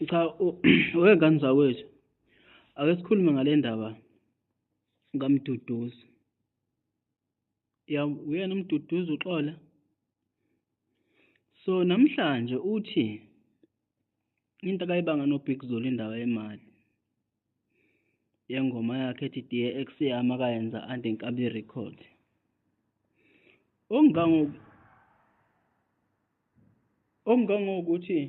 cha wengane zakwethu ake sikhulume ngale ndaba kamduduzi ya uyena umduduzi uxola so namhlanje uthi into akayibanga no Big Zulu indaba yemali yengoma yakhe ethi Dear Ex yami akayenza Ande Nkabi Record ongango ongangokuthi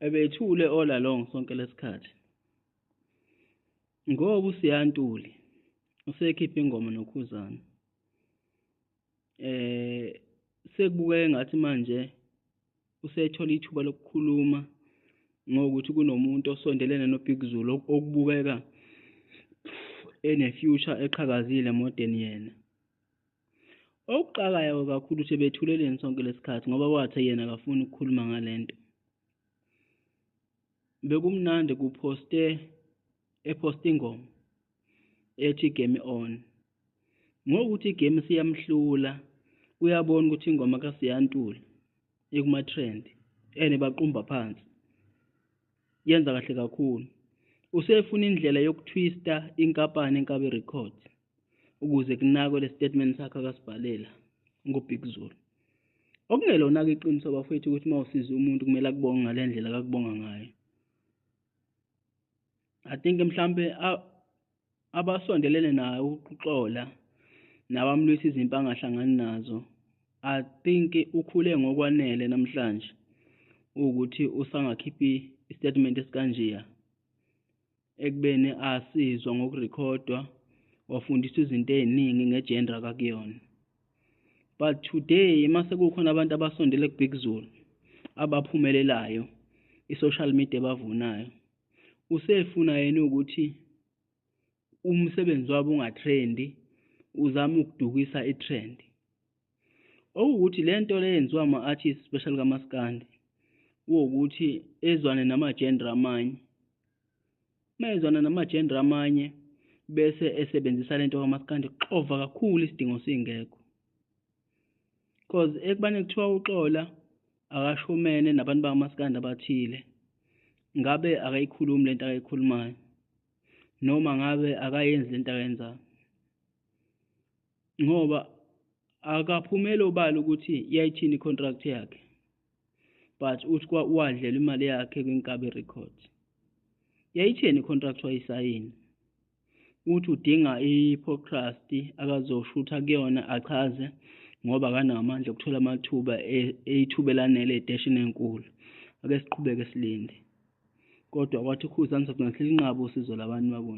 ebethule all along sonke lesikhathi ngoba usiyantuli usekhipha ingoma nokhuzana eh sekubukeka ngathi manje usethola ithuba lokukhuluma ngokuthi kunomuntu osondelene noBig Zulu okubukeka ene-future eqhakazile emodeni yena okuxakayo kakhulu ukuthi bethuleleni sonke lesikhathi ngoba wathe yena akafuni ukukhuluma ngale nto bekumnandi kuphoste ephosta ingoma ethi game on ngokuthi igame siyamhlula uyabona ukuthi ingoma kasiyantula ikuma-trend and baqumba phansi yenza kahle kakhulu usefuna indlela yokuthwista inkampani inkabi record ukuze kunakwe le statement sakhe akasibhalela ngobig zulu okungelona-ke iqiniso bafowethu ukuthi uma usiza umuntu kumele akubonge ngale ndlela kakubonga ngayo i think mhlampe abasondelene naye ukuxola nabamlwisa izimpi angahlangani nazo i think ukhule ngokwanele namhlanje ukuthi usangakhiphi istatement esikanjeya ekubeni asizwa ngokurekhodwa wafundiswa izinto eziningi ngegender kakuyona but today mase kukhona abantu abasondele kubig zulu abaphumelelayo i-social media bavunayo Usefuna yena ukuthi umsebenzi wabo ungatrendi uzama ukudukisa i-trend okuwukuthi le nto le yenziwa ama-artist special kamaskandi kuwukuthi ezwane namajendra amanye uma ezwana namajendra amanye bese esebenzisa le nto kamaskandi kuxova kakhulu isidingo singekho cause ekubane kuthiwa uxola akashumene nabantu bakaMaskandi abathile ngabe akayikhulumi lento akayikhulumayo noma ngabe akayenzi lento akayenzayo ngoba akaphumele obala ukuthi yayithini icontract yakhe but uthi wadlela imali yakhe kwiNkabi Records yayithini icontract wayisayini uthi udinga i-podcast akazoshutha kuyona achaze ngoba akanawo amandla okuthola amathuba e-, eyithuba elanele edeshini enkulu ake siqhubeke silinde kodwa kwathi ukhuza ngizokungahle linqabe usizo labantu bakona